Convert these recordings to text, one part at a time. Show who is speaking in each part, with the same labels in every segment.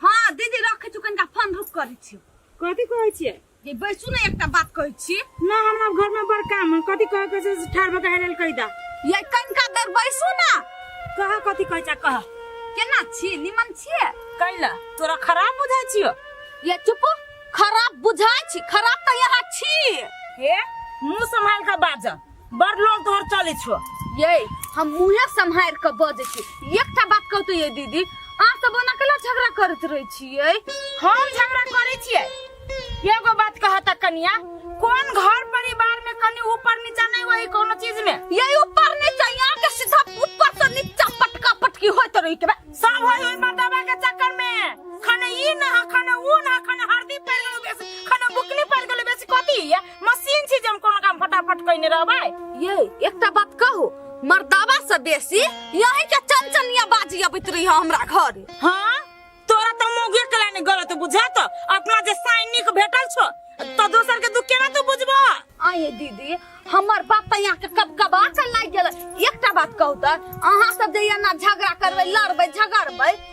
Speaker 1: हाँ दीदी रखे छु कनका फोन रुक करै छी कथि कहै छियै ये बैसू ने एकटा बात कहै छी ना हमरा घर में बड़ काम है कथि कहै के छै से ठार भऽ के हेरल कहि दा ये कनका देर बैसू ना कहा कथि कहै छै कहा केना छी निमन छिए कैला तोरा खराब बुझाइ छियो ये चुप खराब बुझाइ छी खराब त यहाँ छी हे मुंह संभाल के बाजऽ बड़ लोग तोहर चले छो ये हम मुहे सम्हार के बजे छी एकटा बात कहू तो ये दीदी अहाँ सब ओना केला झगड़ा करत रहे छिए हम झगड़ा करे छिए एगो बात कहत कनिया कोन घर परिवार में कनी ऊपर नीचा नहीं वही कोनो चीज में ये ऊपर नीचा यहाँ के सीधा ऊपर से नीचा पटका पटकी होत रही के सब होई होई मर्दबा के चक्कर में खने ई न ह खने ऊ न ह खने हरदी पड़ गेल बेसी खने बुकनी पड़ गेल बेसी कथी है मशीन छी जे हम कोनो काम फटाफट कइने रहबै ये एकटा बात कहू मर्दाबा से बेसी यही के चनचनिया बाजी अबैत रही हमरा घर हाँ तोरा तो मोगे के लाने गलत बुझा तो अपना जे साइन निक भेटल छो तो दोसर के दुख केना तू बुझबो आये दीदी हमर बात तो यहाँ के कब कब आचल लाग गेल एकटा बात कहू त अहाँ सब जे एना झगड़ा करबै लड़बै झगड़बै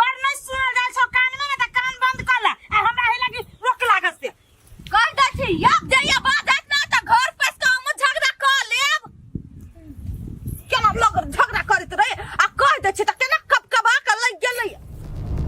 Speaker 1: बड़ नहीं सुनल जाय छौ कान में ना त कान बंद कर ले आ हमरा हे लगी रोक लागत से कर दै छी अब जइया बात आइत ना त घर पर से हमहूँ झगड़ा क लेब केना लोग झगड़ा करैत रहे आ कह दै छी त केना कब कबा के लग गेलै